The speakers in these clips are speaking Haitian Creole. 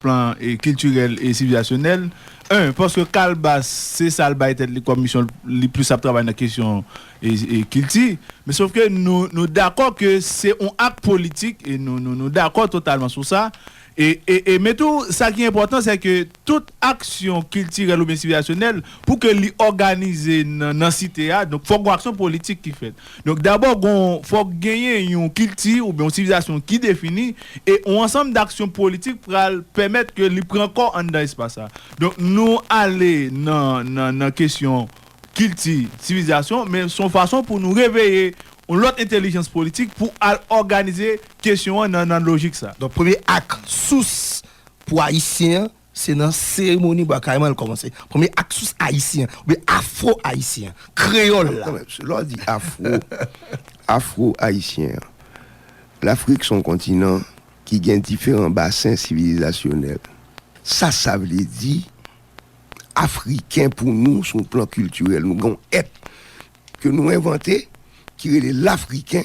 plan kiltirèl e sivilizasyonèl, 1 paske Kalbas se sa l bay tèt li kòm misyon, li plis ap travay nan kesyon kilti, men sof ke nou dakò ke se yon ak politik, e nou dakò totalman sou sa, e men tou sa ki enpòtan se ke tout aksyon kiltirèl oubyen sivilizasyonèl pou ke li òganize nan site a, donk fòk gen yon aksyon politik ki fèt. Donk dabò gon fòk genyen yon kilti oubyen yon sivilizasyon ki defini e yon ansanm daksyon politik pral pèmèt ke li pran kò anndan espas sa. Donk nou ale nan nan nan kesyon kilti, sivilizasyon men son fason pou nou reveye yon lòt entelijans politik pou al òganize kesyon an nan nan lojik sa. Donk premye ak sous pou Ayisyen an Se nan seremoni Bwa Kayiman l kòmanse. Premye ak sous ayisyen, oubyen afro-ayisyen, kreyòl la. Lè w di afro, afro-ayisyen an, Lafrik s on kontinan ki gen diferan basen sivilizasyonèl. Sa sa vle di, Afriken pou nou sou plan kiltirèl, nou gen yon èt ke nou envante ki rele Lafriken.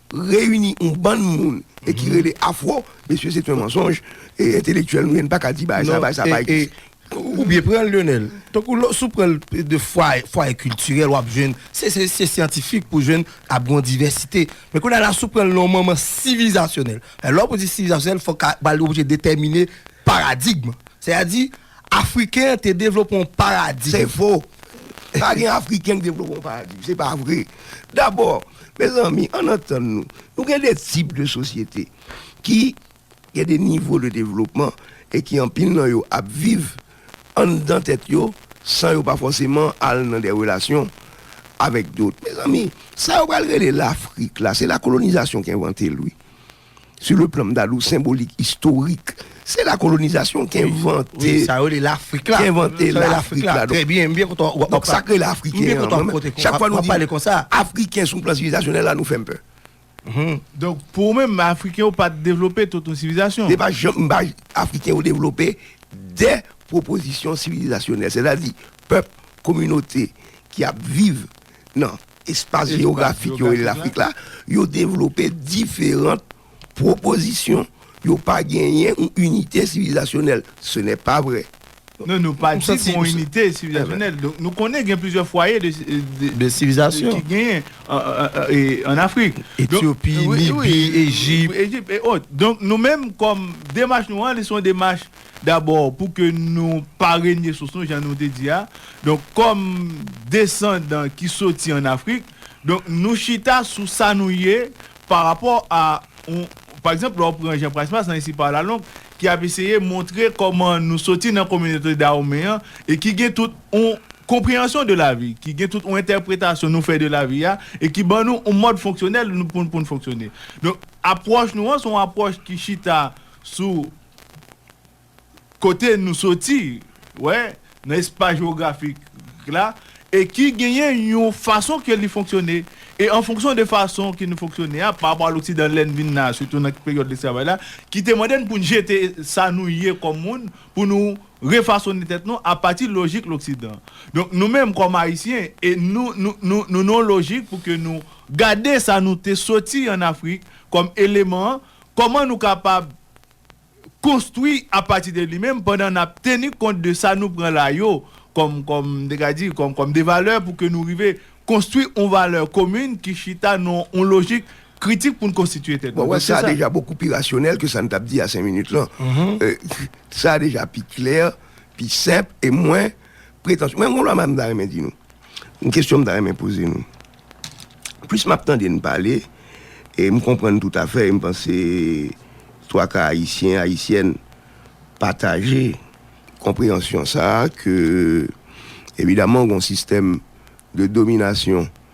reyini yon bann moun e ki rele afro mesye se t yon mansonj e entelektyèl nou ye n paka di bagay sa bagay sa pa egziste. Ou byen pran l Lionel, tankou lò si w pran l de fwaye kiltirèl wap jwenn se se syantifik pou jwenn ap gen yon divèsite men kounye a la si w pran l nan yon moman sivilizasyonèl lè w ap di sivilizasyonèl fòk a ba li oblije detèmine paradigm sètadi Afriken an te devlope yon paradi. Se fo! Pa gen Afriken ki devlope yon paradi. Se pa vre. Dabò, mezanmi, ann antann nou, nou gen de tip de sosyete ki gen de nivo de devlopman e ki anpil nan yo ap viv anndan tèt yo san yo pa fòseman al nan de relasyon avèk dot. Mezanmi, sa yo pral rele Lafrik la, se lakolonizasyon ki envante l, wi. Sou le plan mdalou senbolik istorik se la kolonizasyon ki envante sa yo rele lafrik la trè byen mbyen kontan wap pale sa k rele afriken mbyen kontan wap kote chak fwa nou di konsa afriken sou plan sivilizasyon la nou fè m pè donk pou ou menm afriken yo pat devlope tout yon sivilizasyon se pa janm m pa afriken yo devlope dè pwopozisyon sivilizasyon sètadi pèp kominote ki ap viv Nan espas jeyografik yo rele Lafrik la, yo devlope diferant pwopozisyon. Yo pa genyen yon inite sivilizasyonèl. Se nè pa vrè. Non, nou pa di gen yon inite sivilizasyonèl. Donk, nou konnen gen plizyè fwaye de sivilizasyon ki genyen an Afrik. Etyopi, Libi, Ejip. Ejip, e ot. Donk, nou menm kòm demach nou an, li se yon demach Dabò, pou ke nou pa renye sous nou, jan nou te di a, donk kòm desandan ki soti an Afrik, donk nou chita sou sa nou ye pa rapò a yon, pa egzanp, lè w pran Jean Price Mars nan Ainsi Parle la Langue ki ap eseye montre kòman nou soti nan kominote Dawonmen an e ki gen tout yon konpreyansyon de lavi, ki gen tout yon entèpretasyon nou fè de lavi a e ki ban nou yon mòd fonksyonèl pou n fonksyone. Donk apwòch nou an se yon apwòch ki chita sou. kote nou soti, wè, nan espas jewografik la, e ki genyen yon fason ke li fonksyone. E an fonksyon de fason ke nou fonksyone a, pa rapò a loksidan lè n vin la, sitou nan peryòd lesklavaj la, ki te mande n pou n jete sa nou ye kòm moun, pou nou refasone tèt nou apati lojik loksidan. Donk nou menm kòm Ayisyen, e nou, nou, nou nan yon lojik pou ke nou gade sa nou te soti an Afrik kòm eleman, kòman nou kapab konstwi apati de li menm pandan n ap teni kont de sa nou pran la yo kòm kòm m te ka di kòm kòm de valè pou ke nou rive konstwi yon valè komin ki chita nan yon lojik kritik pou n konstitye tèt nou. Bon, sa deja bokou pi rasyonèl ke sa n t ap di a senk minit lan. Sa deja pi klè, pi senp e mwen. Pretansyon. Mwen gen yon lwa mwen ta renmen di nou. Yon kesyon mwen ta renmen poze nou. Plis m ap tande n pale, e m konprann toutafè, e m panse twaka Ayisyen, Ayisyèn pataje konpreyansyon sa a ke evidaman gen yon sistèm de dominasyon.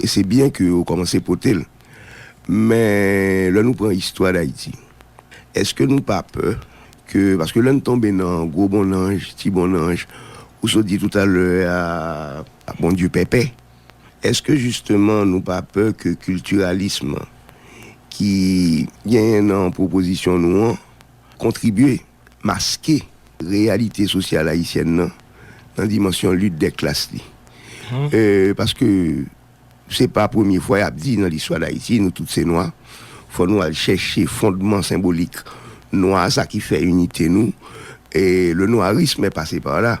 E se byen ke ou kòmanse pote l. Men, lè nou pran istwa Dayiti, èske nou pa pè ke, paske lè n tonbe nan gwo bonnanj, ti bonnanj, ou sot di toutalè a, a Bondye pèpè, èske jisteman nou pa pè ke kiltiralism ki genyen nan pwopozisyon nou an kontribye maske reyalite sosyal ayisyèn nan nan dimansyon lit dè klas li. Paske se pa premye fwa y ap di nan listwa Dayiti nou tout se nwa, fò nou al chèche fondman senbolik nwa sa ki fè inite nou e le nwarisme est passé par là.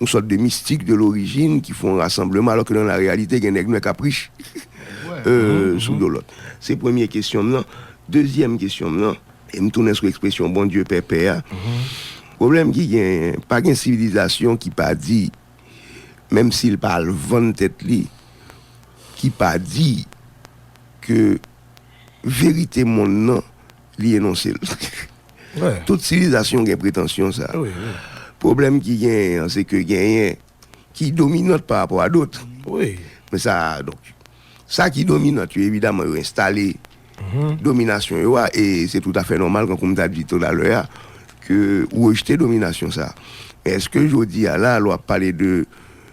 Yon sòt de mistik de lorijin ki fon rasanbleman alò ke nan la reyalite gen nèg nwè kap rich sou do lòt. Se premye kesyon m nan. Dezyèm kesyon m nan, e m tounen sou ekspresyon bon Dye pè pè a, pwoblèm ki genyen, pa gen sivilizasyon ki pa di, menm si l pa al vann tèt li, ki pa di ke verite monn nan li enonse l. Tout sivilizasyon gen pretansyon sa. Pwoblèm ki genyen an se ke genyen ki dominant pa rapò a dot. Men sa, donk, sa ki dominant yo evidaman yo enstale dominasyon yo a e se tout afè nòmal kankou m ta di tout a lè a ke ou rejte dominasyon sa. Men eske jodi a la lè w ap pale de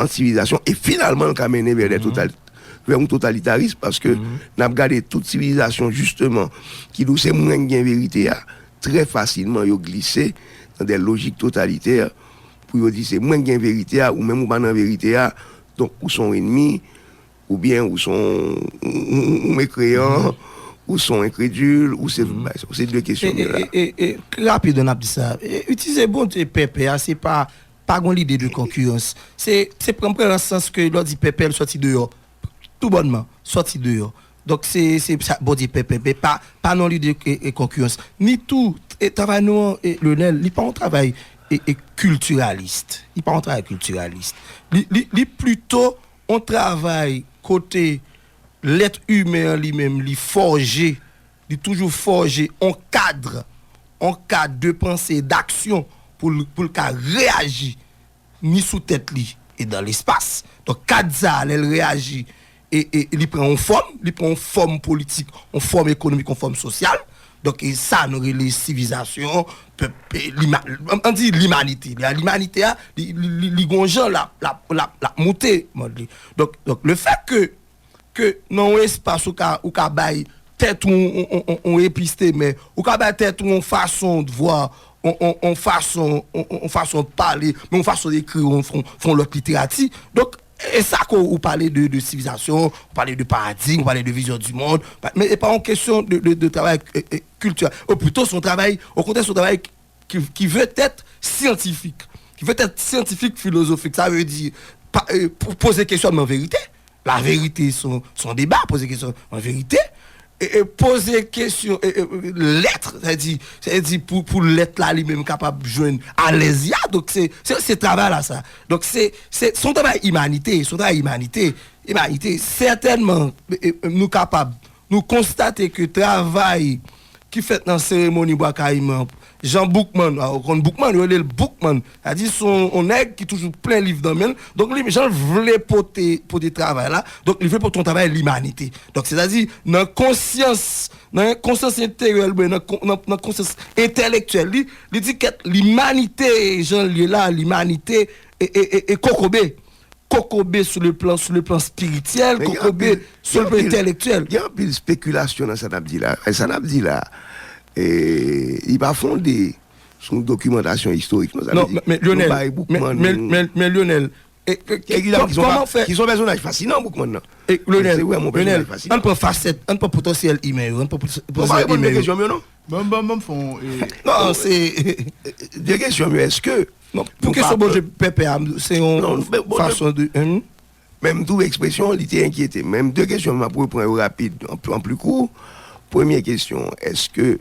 an sivilizasyon e finalman l ka mennen vè lè total vè yon totalitarism paske n ap gade tout sivilizasyon jisteman ki di w se mwen k gen verite a trè fasilman yo glise nan dè lojik totalitè pou yo di se mwen k gen verite a ou menm ou pa nan verite a donk ou son enmi oubyen ou son ou mekreyan ou son enkredil ou se ou se de kesyon e e e rapid an ap di sa itilize bon Dye pèpè a se pa Pa gon lide de konkirans. Se, se pran pran lan sans ke lè w di pèpè l sòti deyò. Tou bònman, sòti deyò. Donk se, se sa Bondye pèpè. Men pa, pa nan lide ke e konkirans. Ni tou, e travay nou an, e Lionel, li pa yon travay e, e kiltiralist. Li pa yon travay kiltiralist. Li, li, li plito yon travay kote lèt imen an li menm li fòje Li toujou fòje on kadr, on kad de panse e daksyon pou l pou l ka reyaji ni sou tèt li e dan lespas. Donk kad sa a lè l reyaji e e li pran on fòm, li pran on fòm politik, on fòm ekonomik, on fòm sosyal. Donk e sa nou rele sivizasyon, pèp e lima an di limanite. Lè a limanite a li li li li gon jan l ap l ap l ap l ap moute mond li. Donk donk lefèt ke ke nan yon espas ou ka ou ka bay tèt ou yon episteme, ou ka bay tèt ou yon fason de vwa, yon fason yon fason de pale, yon fason de ekri yon yon lòt literati. Donk, e sa ke ou pale de de sivilizasyon, ou pale de paradigm, ou pale de vizyon di mond, men e pa yon kesyon de travay kiltirèl. Ou pito se yon travay, okontrè se yon travay ki ve tèt syantifik, ki ve tèt syantifik filozofik, sa ve di poze kesyònman verite, la verite son deba, poze kesyònman verite, poze kesyon lèt, sa ve di, sa ve di pou lèt la li menm kapab jwenn alèz li a, donk se travay la sa. Donk se, se son travay imanite, son travay imanite, imanite, sètènman nou kapab, nou konstate ke travay ki fèt nan seremoni Bwa Kayiman an, Jan Boukman, a ou konn Boukman, yo rele l Boukman, sa di se yon nèg ki toujou plen liv nan men l, donk li jan l vle pote pote travay la, donk li vle pote yon travay limanite. Donk se ta di nan konsyans, nan konsyans enteryèl mwen, nan konsyans entelektyèl li, li di kèt limanite jan l ye la, limanite e kokobe, Kokobe sou le plan, sou le plan spirityèl, kokobe sou le plan entèlektyèl. Gen anpil spekilasyon nan sa n ap di la. Sa n ap di la, li pa fonde sou yon dokimantasyon istorik non. Non, men Lyonèl, men Lyonèl, kòman fè. Ki son pèsonaj fasinan Boukman nan. Lyonèl, Lyonèl, an n pran fasèt, an n pran potansyèl imè yo, an n pran potansyèl imè yo. Mwen pa reponn de kesyonm yo non. Bon bon bon fon e. Non se de kesyon yo eske. Pou kesyon Bondye pèpè a se yon fason de. Men m twouve ekspresyon li te enkyete m. Men 2 kesyon m ap repran yo rapid an pli kou. Premye kesyon an eske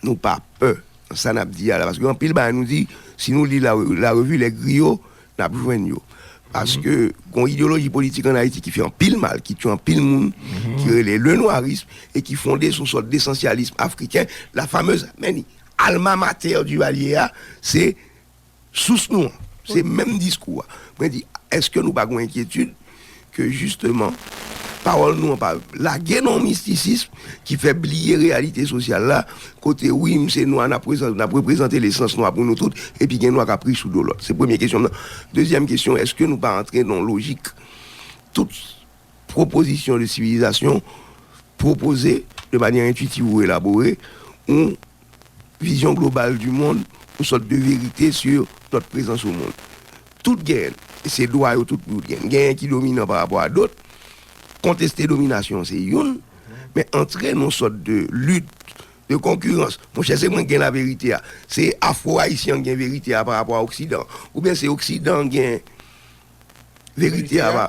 nou pa pè sa n ap di a la paske anpil bagay nou di si nou li la revi le griyo N ap jwenn yo. Paske gon ideyoloji politik an Ayiti ki fè anpil mal, ki tye anpil moun, ki rele lenwarism e ki fonde sou yon sòt desansyalism afriken, la famez, men li, alma mater Duvalier a, se sous nou an. Se menm diskou a. Mwen di, èske nou pa gon enkyetid? ke jisteman pawòl nou an pa lage nan yon mistisism ki fè bliye reyalite sosyal la, kote wi m se nwa n ap reprezante lesans nwa pou nou tout epi gen nwa k ap ri sou do lòt. Se premye kesyon m nan. Dezyèm kesyon, èske nou pa antre nan yon lojik tout pwopozisyon de sivilizasyon pwopoze de manyè entwitiv ou elabore ou Vision globale du monde, yon sòt de verite sur notre presence au monde. Tout genyen, e se dwa yo tout pou yo t genyen. Genyen ki dominan pa rapò a dot. Konteste dominasyon an se youn, men antre nan yon sòt de lit, de konkirans. Monchè, se mwen k gen laverite a? Se afro ayisyen an k gen verite a pa rapò a oksidan an? Oubyen se oksidan an k gen verite a pa.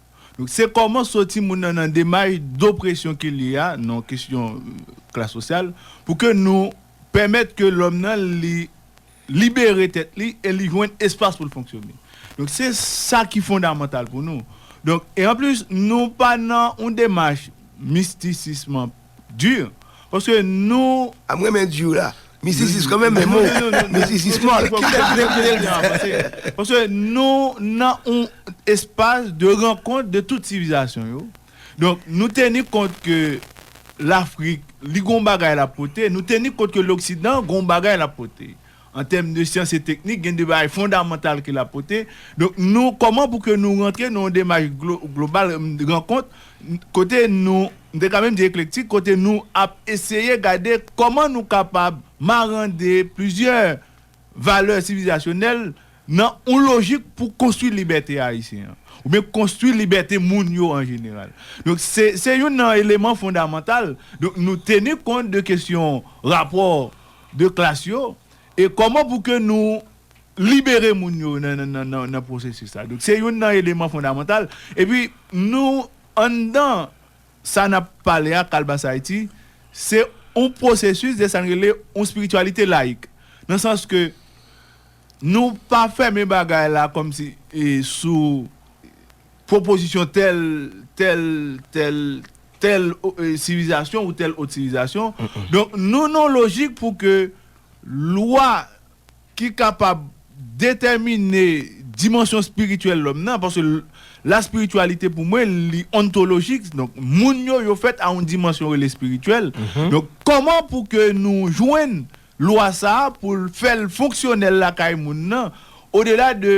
Donk se kòman soti moun nan nan demach dopresyon ke l ye a nan kesyon klas sosyal pou ke nou pèmèt ke lòm nan li libere tèt li e li jwenn espas pou l fonksyone. Donk se sa ki fondamantal pou nou. Donk e anplis nou pa nan yon demach mistisism Dur paske nou. A m renmen dur la. Missis is komè men mo missis is mòl. Paske nou nan yon espas de rankont de tout sivilizasyon yo. Donk nou teni kont ke Lafrik li gon bagay l ap pote, nou teni kont ke loksidan gon bagay l ap pote. An tèm de syans e teknik, gen de bagay fondamantal ke l ap pote. Donk nou, kòman pou ke nou rantre nan yon demach global, rankont, kote nou, m te ka menm di eklektik, kote nou ap eseye gade kòman nou kapab marande plizyè valè sivilizasyonèl nan yon lojik pou konstwi libète ayisyen an, oubyen konstwi libète moun yo an jeneral. Donk se youn nan eleman fondamantal. Donk nou teni kont de kesyon rapò 2 klas yo e kòman pou ke nou libere moun yo nan pwosesis sa. Donk se youn nan eleman fondamantal. E pi nou anndan sa n ap pale a Kalbas Ayiti, se yon pwosesis de sa n rele yon espirityalite layik. Nan sans ke nou pa fèmen bagay la kòmsi sou. Pwopozisyon tèl, tèl, tèl, tèl sivilizasyon ou tèl ot sivilizasyon. Donk, nou nan yon lojik pou ke lwa ki kapab detèmine dimansyon espirityèl lòm nan, paske laspirityalite pou mwen li ontolojik, donk moun yo, yo fèt a yon dimansyon rele espirityèl. Donk, kòman pou ke nou jwenn lwa sa a pou l fè l fonksyonèl lakay moun nan, odela de.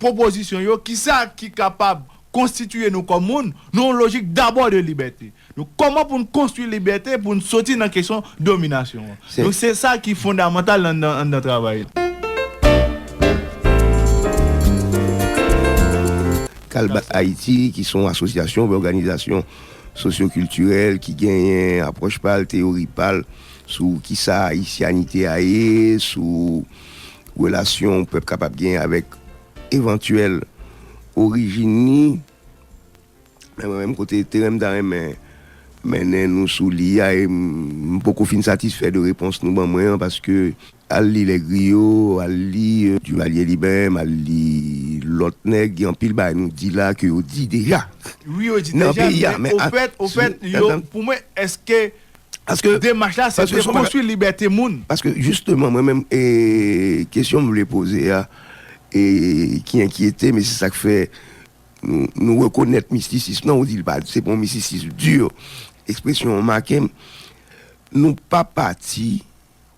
Pwopozisyon yo, Kisa ki kapab konstitiye nou kòm moun, nan yon lojik dabò de libète? Donk, kòman pou n konstwi libète pou n soti nan kesyon dominasyon an? Donk, se sa ki fondamantal anndan travay la. Kalbat Ayiti, ki se yon asosyasyon oubyen òganizasyon sosyokiltirèl ki genyen apwòch pa l, teyori pa l sou kisa ayisyanite a ye, sou Relasyon yon pèp kapab genyen avèk evantyèl orijin li, men mwen menm kote teren m ta renmen mennen nou sou li a, e m poko fin satisfè de repons nou ban mwen an, paske al li Les Griots, al li Duvalier Liben, al li lòt nèg, gen anpil bagay nou di la ke yo di deja nan peyi a. Wi yo di deja, men ofèt, ofèt yo, pou mwen, èske Paske. Demach la se te konstwi libète moun. Paske jisteman mwen menm e kesyon m vle poze a e ki enkyete m e se sa k fè nou rekonèt mistisism nan ou di l pa se pa yon mistisism di ekspresyon w make m nou pa pati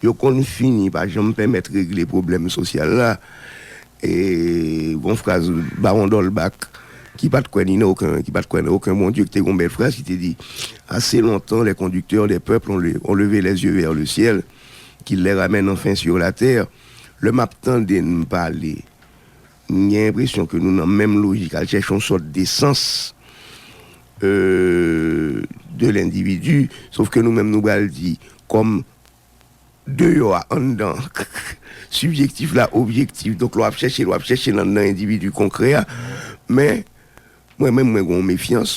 Yo konn fini pa janm pèmèt regle pwoblèm sosyal la. E gon fraz Bawon Dòlbak ki pa t kwè ni nan oken, ki pa t kwè nan oken Bondye, ki te gon bèl fraz ki te di, Assez longtemps les conducteurs des peuples ont levé les yeux vers le ciel, qu'ils les ramènent enfin sur la terre. Lè m ap tande n pale M gen enpresyon ke nou nan menm lojik al chèche yon sòt de sans de lendividu, sof ke nou menm nou pral di kòm deyò a anndan, sibjektif la objektif, donk lè w ap chèche l w ap chèche l anndan endividu konkrè a, men mwen menm mwen gen yon mefyans.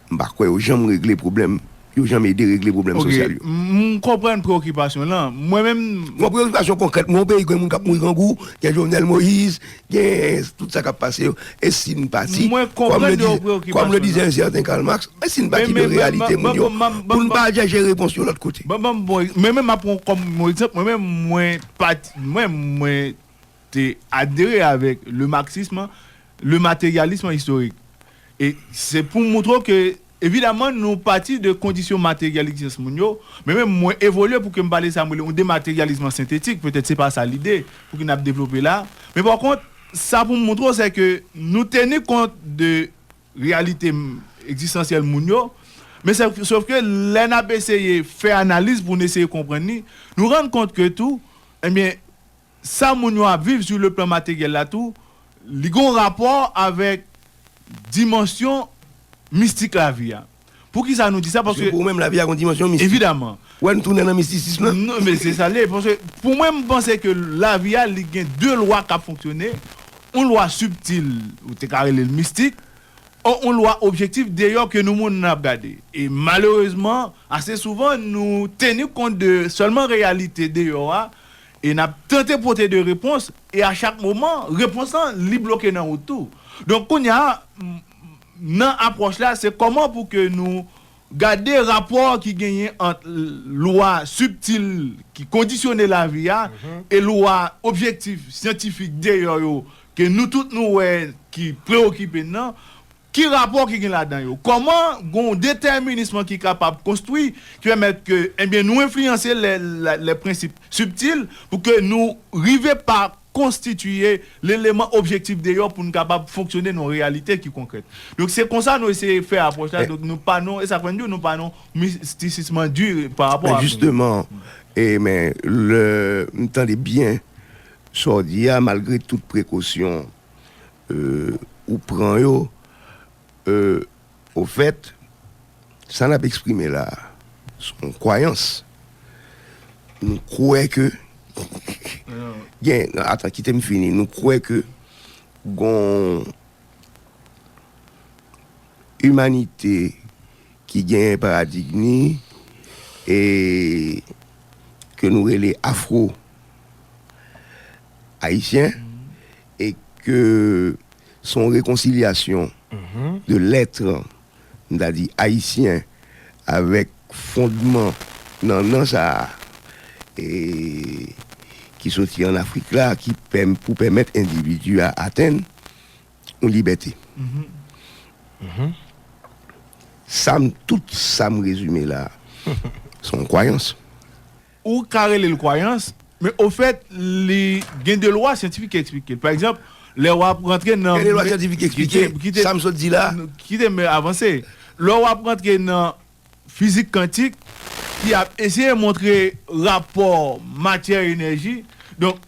M pa kwè yo janm regle pwoblèm, yo janm ede regle pwoblèm sosyal yo. Ok, m konprann preokipasyon w lan. Mwen menm. Yon preokipasyon konkrèt. Men yon peyi gen moun k ap mouri grangou, gen Jovenel Moïse, gen tout sa k ap pase yo. E si n pati. Mwen konprann de yon preokipasyon. Kòm le dizè un certain Karl Marx, e si n pati de reyalite moun yo pou n pa al chèche repons yo lòt kote? Ban m yon bon egzanp. Mwen menm m ap pran kòm yon egzanp, mwen menm mwen pati, mwen menm mwen. te adere avèk le marxisme, le materialisme historique. E se pou moutre w ke evidaman nou pati de kondisyon materyalik tiyès moun yo, men menm mwen evolye pou ke m pale sa m rele yon demateryalism an sentetik, petèt se pa sa lide pou ke n ap devlope la. Men pa kont, sa pou m moutre w se ke nou teni kont de reyalite ekzistansyèl moun yo, men se sof ke lè n ap eseye fè analiz pou n eseye konprann li, nou rann kont ke tou, enben, sa moun yo ap viv sou le plan materyèl la tou, li gen yon rapò avèk dimansyon mistik lavi a. Poukisa nou di sa? Paske. Paske pou ou menm lavi a gen yon dimansyon mistik. Evidaman. Ou wè nou tounen nan mistisism la? Non, men se sa l ye. Paske pou mwen, m panse ke lavi a li gen de lwa k ap fonksyone, yon lwa sibtil, ou te ka rele l mistik, o yon lwa objektif deyò ke nou moun ap gade. E malerezman, ase souvan nou teni kont de sèlman reyalite deyò a, E n ap tante pote de repons, e a chak moman, repons lan, li bloke nan wout tou. Donk kounye a, nan apwòch la, se kòman pou ke nou gade rapò ki genyen ant lwa sibtil ki kondisyone lavi a e lwa objektif, syantifik, deyò yo, ke nou tout nou wè ki preokipe n nan, Ki rapò ki gen ladan yo? Kòman gen yon detèminism ki kapab konstwi, ki pèmèt ke, enbyen, nou enfliyanse lè, lè prensip sibtil, pou ke nou rive pa konstitiye leleman objektif deyò pou nou kapab fonksyone nan yon reyalite ki konkrèt. Donk, se konsa nou eseye fè apwòch la, donk nou pa nan, e sa k fè n di w, nou pa nan mistisism an di pa rapò Men ak. jisteman, e men, lè m tande byen sa w di a, malgre tout prekosyon, Ou pran yo ofèt sa nap eksprime la son kwayans nou kwè ke gen atan kitem fini nou kwè ke gon imanite ki gen paradigni e ke nou rele afro ayisyen E ke son rekonsilyasyon de lètr, m ta di ayisyen, avèk fondman nannan sa a e ki soti an Afrik la ki pèm pou pèmèt endividi a atenn yon libète. Sa m tout sa m rezime la a son kwayans. Ou ka rele l kwayans, men ofèt li gen de lwa syantifik ki eksplike l. Pa egzanp, lè w ap rantre nan. Gen de lwa syantifik ki eksplike sa m sot di la a? Kite m avanse. Lè w ap rantre nan fizik kantik ki ap eseye montre rapò matyè-enèji, donk.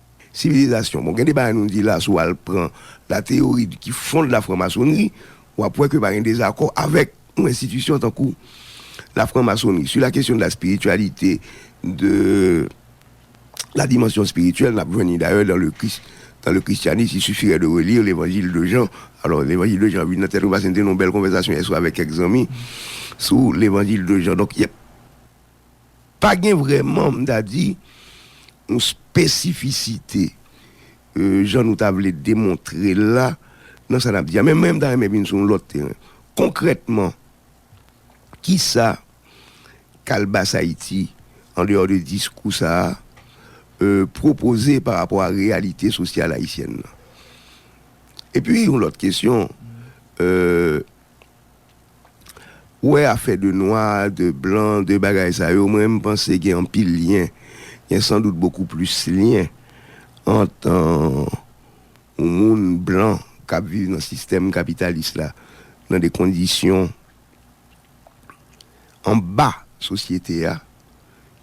Sivilizasyon. Bon gen de bagay nou di la si w al pran la teyori ki fonde la franmasonri w ap wè ke pa gen dezakò avèk yon enstitisyon tankou la franmasonri si la kesyon de la spirityalite de la dimansyon spirityèl n ap jwenn li dayè dan le kris dan le kristyanis il suffirè de relire levanjil de jan alò levanjil de jan vin nan tèt ou paske n te nan yon bèl konvèsasyon yèswa avèk kèk zanmi sou levanjil de jan donk yè. Pa gen vrèman, m ta di, yon spesifisite jan nou ta vle demontre l la nan sa n ap di a. Men mwen m ta renmen vin sou yon lòt teren. Konkrètman, ki sa Kalbasayiti, andeyò de diskou sa a, pwopoze pa rapò a reyalite sosyal ayisyèn nan? Epi yon lòt kesyon, Ou wè afè de nwa, de blan, de bagay sa yo, mwen m panse gen anpil lyen, gen san dout bokou plis lyen ant yon moun blan k ap viv nan sistèm kapitalis la, nan de kondisyon anba sosyete a,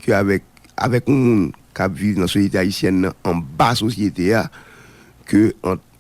ke avèk avèk yon moun k ap viv nan soyete ayisyèn nan anba sosyete a, ke ant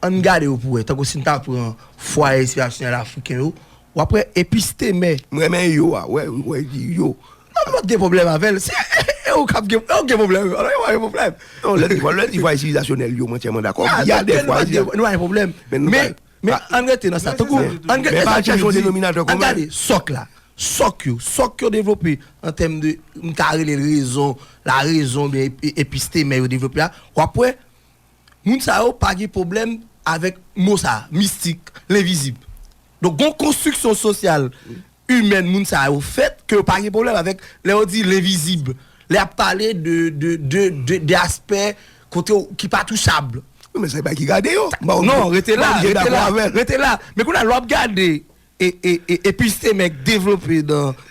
An n gade yo pou wè. Tankou si n ta pran fwaye enspirasyonèl afriken yo, w ap wè epistemè. M renmen yo a, wè ou wè li yo. Lè lòt gen pwoblèm avè l, se e ou k ap gen pwoblèm. Lè l di fwaye sivilizasyonèl yo, m antiyèman dakò. An n gade fwaye sivilizasyonèl. Nou pa gen pwoblèm. Men an n rete nan sa. Tankou an n gade sa Tchèlou di. An n gade sòk la. Sòk yo. Sòk yo devlope an tèm de m ta rele l rezon, larezon oubyen epistemè yo devlope a. W ap wè Moun sa yo pa gen pwoblèm avèk mo sa a, mistik, lenvizib. Donk gon konstriksyon sosyal, imèn moun sa yo fèt ke yo pa gen pwoblèm avèk lè yo di lenvizib, lè y ap pale de, de, de, de, de aspè kote yo, ki pa touchab. Wi men se bagay ki gade yo. Non, rete la, rete la, rete la. Men kounye a lè w ap gade. E pi Stemèk devlope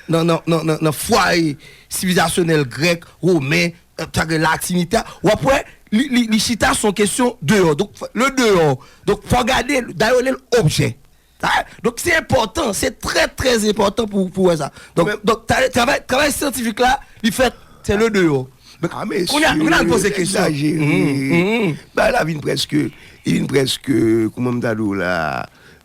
nan fwaye sivilizasyonèl grèk, women, tanke latinite a, w ap wè li chita sou yon kesyon deyò. Donk, le deyò, donk fò w gade, dayò li l objè. Donk se enpòtan, se trè trè enpòtan pou w wè sa. Donk travay syantifik la, li fèt se le deyò. A mesye, egzajere. Bagay la vin prèske, li vin prèske, kouman m ta di w la?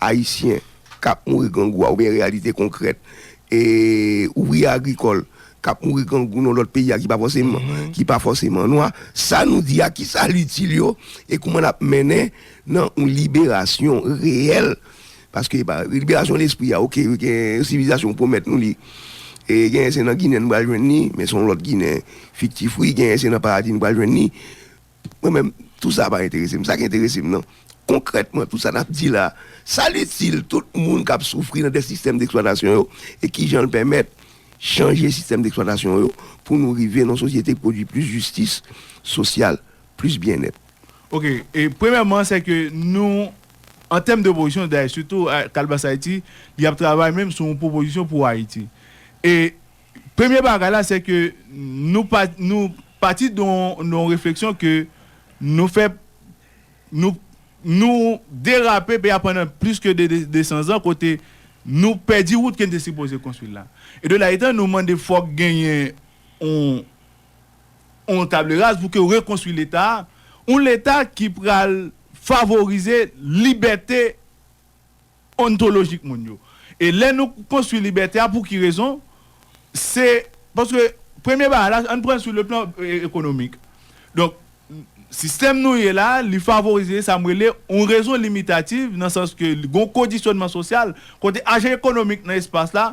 Ayisyen k ap mouri grangou a oubyen reyalite konkrèt e ouvriye agrikòl k ap mouri grangou nan lòt peyi a ki pa fòseman ki pa fòseman nwa, sa nou di a ki sa l itil yo e kouman n ap mennen nan yon liberasyon reyèl paske epa liberasyon lespri a ok gen yon sivilizasyon pwomèt nou li e genyen se nan Ginen n pral jwenn li men se yon lòt Ginen fiktif wi genyen se nan paradi n pral jwenn li. Mwen menm, tout sa a pa enterese m. Sa ki enterese m nan, konkrètman, tout sa n ap di la a, sa l itil tout moun k ap soufri nan de sistèm deksplwatasyon yo e ki jan l pèmèt chanje sistèm deksplwatasyon yo pou nou rive nan yon sosyete ki pwodui plis jistis sosyal, plis byennèt. Oke. E premyèman, sè ke nou, an tèm de pwopozisyon, dayè sitou Kalbas Ayiti, li ap travay menm sou yon pwopozisyon pou Ayiti. E Premye bagay la se ke nou nou pati de yon refleksyon ke nou fè nou nou derape peyi a pandan plis ke 200 zan kote nou pèdi wout ke n te sipoze konstwi la. E de la etan nou mande fòk genyen yon yon table rase pou ke rekonstwi leta a, yon leta ki pral favorize libète. ontolojik moun yo. E lè nou konstwi libète a pou ki rezon? Se paske premye bagay la, ann pran l sou le plan ekonomik. Donk, sistèm nou ye la, li favorize sa m rele yon rezon limitativ nan sans ke li gen yon kondisyònman sosyal kote ajan ekonomik nan espas la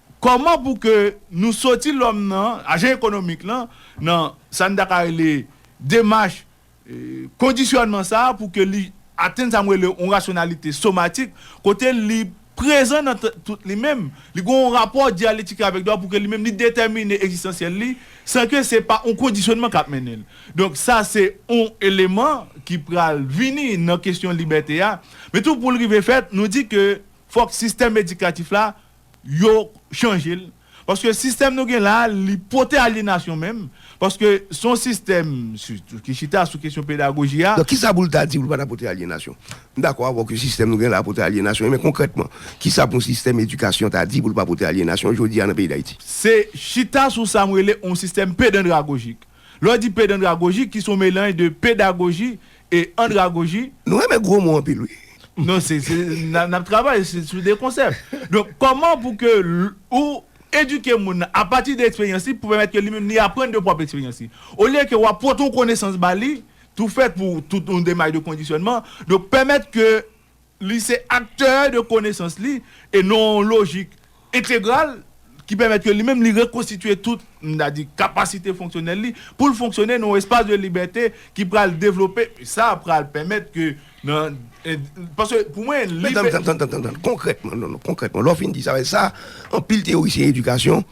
Kòman pou ke nou soti lòm nan ajan ekonomik lan, nan sa n ta ka rele demach kondisyònman sa a pou ke li atenn sa m rele yon rasyonalite somatik, kote li prezan nan tout li menm, li gen yon rapò dyaletik avèk dwa pou ke li menm li detèmine egzistansyèl li san ke se pa yon kondisyònman k ap mennen l. Donk sa se yon eleman ki pral vini nan kesyon libète a. Men tou pou l rive fèt, nou di ke fòk sistèm edikatif la. yo chanje l paske sistèm nou gen la li pote alyenasyon menm paske se yon sistèm sitou ki chita sou kesyon pedagoji a. Donk kisa pou l ta di pou l pa ta pote alyenasyon? M dakò avè w ke sistèm nou gen la a pote alyenasyon men konkrètman kisa pou yon sistèm edikasyon ta di pou l pa pote alyenasyon jodi a nan peyi Dayiti? Se chita sou sa m rele yon sistèm pedandragojik Lè w di pedandragoji ki se yon melanj de pedagoji e andragoji. Nou renmen gwo mo anpil wi. Non se nap travay sou de konsèp. Donk kòman pou ke ou edike moun nan apati de eksperyans li pou pèmèt ke li menm li aprann de pwòp eksperyans li. Olye ke wap pote yon konesans ba li tou fèt pou tout yon demach de kondisyònman. Donk pèmèt ke Li se aktè de konesans li e non yon lojik entegral ki pèmèt ke li menm li rekonstitye tout, m ta di, kapasite fonksyonèl li pou l fonksyone nan yon espas de libète ki pral devlope, sa pral pèmèt ke nan, paske pou mwen li. Tann, tann, tann, tann, tann, konkrètman, non, non, konkrètman, lè w fin di sa, sa anpil teyorisyen edikasyon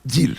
di l.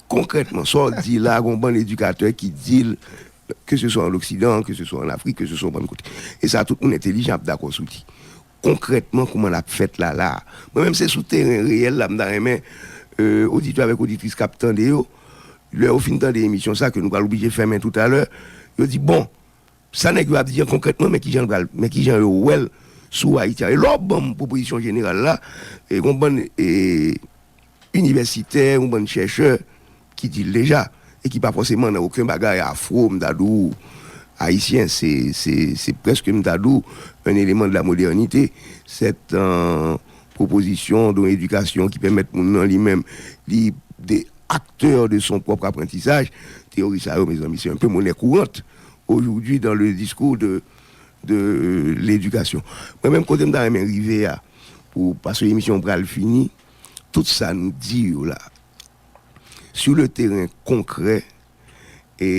Konkrètman, sa w di la a gon bann edikatè ki di l, ke se swa an Loksidan, ke se swa an Afrik, ke se swa yon bann kote. E sa tout moun entelijan ap dakò sou li. Konkrètman, kouman l ap fèt la la a? Mwen menm se sou teren reyèl la m ta renmen oditè avèk oditris k ap tande yo, lè yo fin tande emisyon sa a, ke nou pral oblije fèmen toutalè, yo di bon, Sa nèg yo ap di an konkrètman men kijan l pral men kijan yo wè l sou Ayiti a e lè w ban m pwopozisyon jeneral la e gon bann inivèsitè yon bann chèchè ki di l deja e ki pa fòseman nan oken bagay afro m ta di w ayisyen se se se prèske m ta di w un élément de la modernité sèt an pwopozisyon don edikasyon ki pèmèt moun nan li menm li de acteur de son propre apprentissage teyori sa yo mezanmi se un peu monnaie courante. aujourd'hui dans le discours de de l'éducation mwen menm kote m ta renmen rive a pou paske emisyon an pral fini tout sa nou di yo la sur le terrain concret e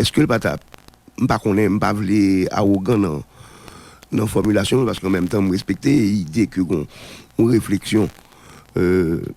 eske l pa ta m pa konnen m pa vle awogan nan nan fòmilasyon m paske an menm tan m respekte ide ke gon yon refleksyon eee.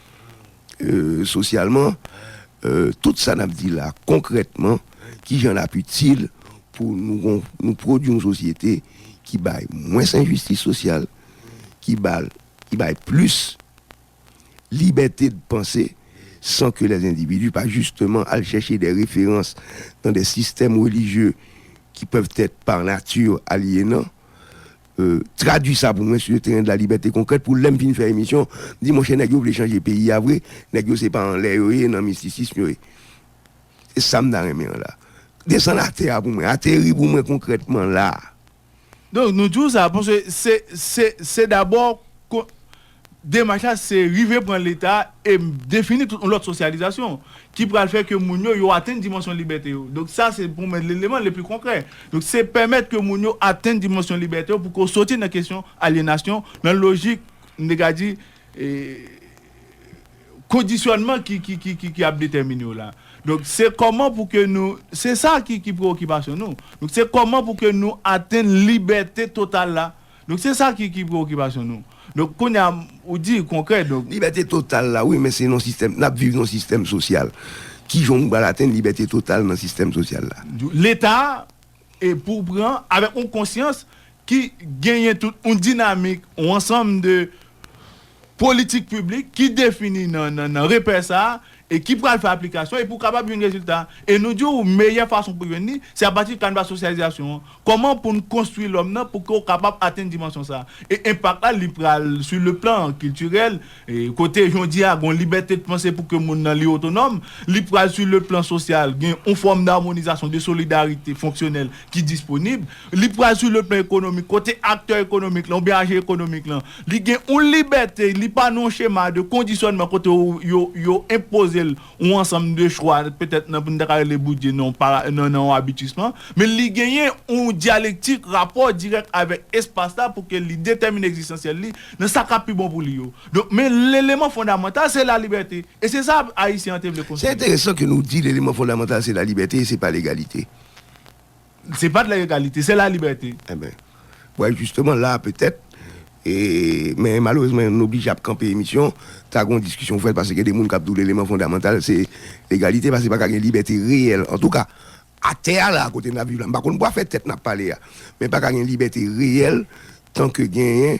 sosyalman, tout sa nap di la konkrètman kijan lap itil pou nou gon nou pwodwi yon sosyete ki bay mwens enjistis sosyal, ki bal ki bay plis libète de panse san ke lè endividi pa jisteman al chèche de referans nan de sistèm relijye ki pèvtèt pa nati alyenan. Tradwi sa pou mwen sou le teren de la libète konkrèt pou lèm fin fè emisyon m di monchè nèg yo vle chanje peyi a vre nèg yo se pa anlè yo ye nan mistisism yo ye se sa m ta renmen an la desann atè a pou mwen ateri pou mwen konkrètman la. Donk nou di w sa paske se se se dabò Demach la se rive pran Leta e defini tout yon lòt sosyalizasyon ki pral fè ke moun yo, yo atenn dimansyon libète yo. Donk sa se pou mwen leleman le pli konkrè. Donk se pèmèt ke moun yo atenn dimansyon libète yo pou ke w soti nan kesyon alyenasyon, nan lojik, m te ka di, kondisyònman ki ap detèmine w la. Donk se kòman pou ke nou, se sa ki prewokipasyon nou. Donk se kòman pou ke nou atenn libète total la Donk se sa ki ki preokipasyon nou. Donk kounye a ou di konkrè donk. Libète total la wi men se nan sistèm nap viv nan sistèm sosyal kijan nou pral atenn libète total nan sistèm sosyal la. Leta e pou pran avèk yon konsyans ki genyen tout yon dinamik yon ansanm de politik piblik ki defini nan repè sa a e ki pral fè aplikasyon epi ou kapab jwenn rezilta. E nou di ou meyè fason pou jwenn li, se apati kanvas sosyalizasyon an. Kòman pou n konstwi lòm nan pou ke ou kapab atenn dimansyon sa a. E enpak la, li pral sou le plan kiltirèl, kote jodi a gen yon libète de panse pou ke moun nan li otonòm. Li pral sou le plan sosyal, gen yon fòm damonizasyon, de solidarite fonksyonèl ki disponib, li pral sou le plan ekonomik, kote aktè ekonomik lan oubyen ajan ekonomik lan, li gen yon libète, li pa nan yon chema de kondisyònman kote yo enpoze l yon ansanm de chwa, petèt nan, nou ta ka rele boudje nan yon abitisman, men li genyen yon dyalektik, rapò dirèk avèk espas la pou ke li detèmine ekzistansyèl li nan sa k ap pi bon pou li yo. Donk, men leleman fondamantal se lalibète, e se sa Ayisyen an te vle Se konstwi. enteresan ke nou di leleman fondamantal se lalibète e se pa legalite. Se pat la egalite, se la libète. Enben, wè jisteman la petèt, men malerezman nou oblije ap kanpe emisyon, ta gen yon diskisyon pou fèt paske gen de moun k ap di w leman fondamantal se legalite paske pa ka gen libète reyèl antouka a tè a la kote n ap viv la m pa konn pou afè tèt n ap pale a men pa ka gen libète reyèl tanke genyen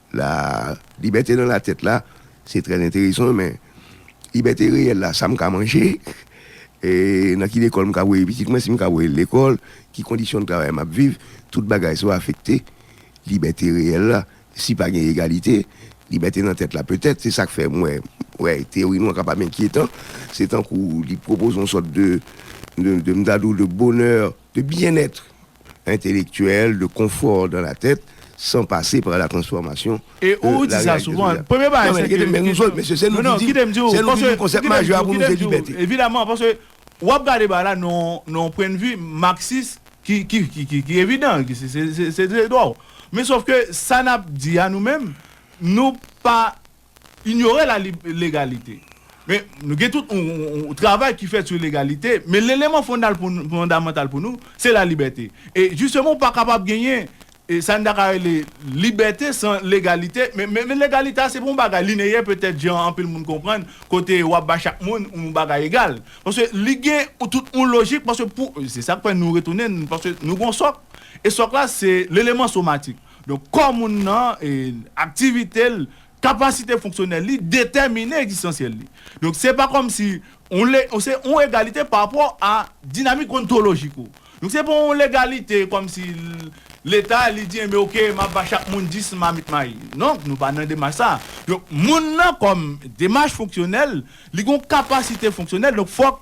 La libète nan latèt la, se trè enteresan men libète reyèl la, sa m ka manje, nan ki lekòl m ka voye pitit mwen, si m ka voye l lekòl, ki kondisyon travay m ap viv, tout bagay sa yo afekte libète reyèl la. Si pa gen egalite, libète nan tèt la petèt. Se sa k fè mwen wè teyori nou an kapab enkyetan. Se tankou li pwopoze yon sòt de, m ta di w, de bonè. de bien-être intellectuel, de confort dans la tête, sans passer par la transformation de la réalité sociale. E ou di sa souvan. Premye bagay se ke kesyon. Non men, kite m di w, mesye, se nou ki di. Kite m di w. Se nou ki di konsèp majè a pou nou se libète. Evidaman, paske w ap gade bagay la nan yon pwennvi marxis ki evidan, ki se dwa w. Men sof ke sa n ap di a nou menm, nou pa. Inyore la legalite. Men nou gen tout yon travay ki fèt sou legalite, men leleman fondamantal pou nou se la libète. E jisteman ou pa kapab genyen sa n ta ka rele libète san legalite, men legalite a se pa yon bagay lineyè petèt jan anpil moun konprann kote w ap bay chak moun yon bagay egal. Paske li gen tout yon lojik paske pou, se sa k fè nou retounen paske nou gen yon sòk e sòk la se leleman somatik. Donk, kò moun nan, aktivite l, kapasite fonksyonèl li detèmine ekzistansyèl li. Donk, se pa kòmsi yon se yon egalite parapò a dinamik ontolojik ou. Donk, se pa yon legalite kòmsi Leta li di enben ok m ap ba chak moun 10 mamit mayi. Non, nou pa nan demach sa a. Donk, moun nan kòm demach fonksyonèl, li gen yon kapasite fonksyonèl donk fòk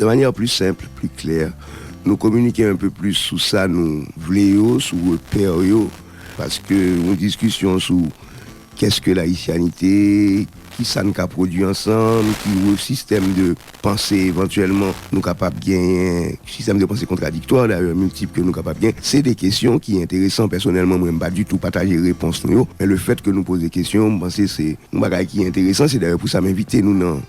De manyè pli senp, pli klè, nou kominike enpe plis sou sa nou vle yo, sou repè yo, paske yon diskisyon sou Qu'est-ce que l'haïtianité? Ki sa n ka pwodui ansanm? Ki sistèm de panse evantyèlman nou kapab genyen? Sistèm de panse kontradiktwa dayè, miltip ke nou kapab gen. Se de kesyon ki enteresan. Pèsonèlman mwen m pa ditou pataje repons nou yo, men le fèt ke nou poze kesyon yo m panse se yon bagay ki enteresan. Se dayè pou sa m envite nou nan.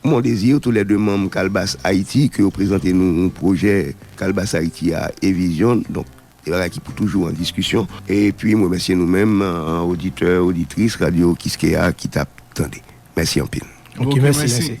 Mondésir, tou lè 2 manm Kalbas Ayiti, ke yo prezante nou pwojè Kalbas Ayiti a e vizyon, donk de bagay ki pou toujou an diskisyon. Epi m remèsye nou menm oditè, oditris Radyo Kiskeya ki t ap tande. Mèsi anpil. Ok, mèsi.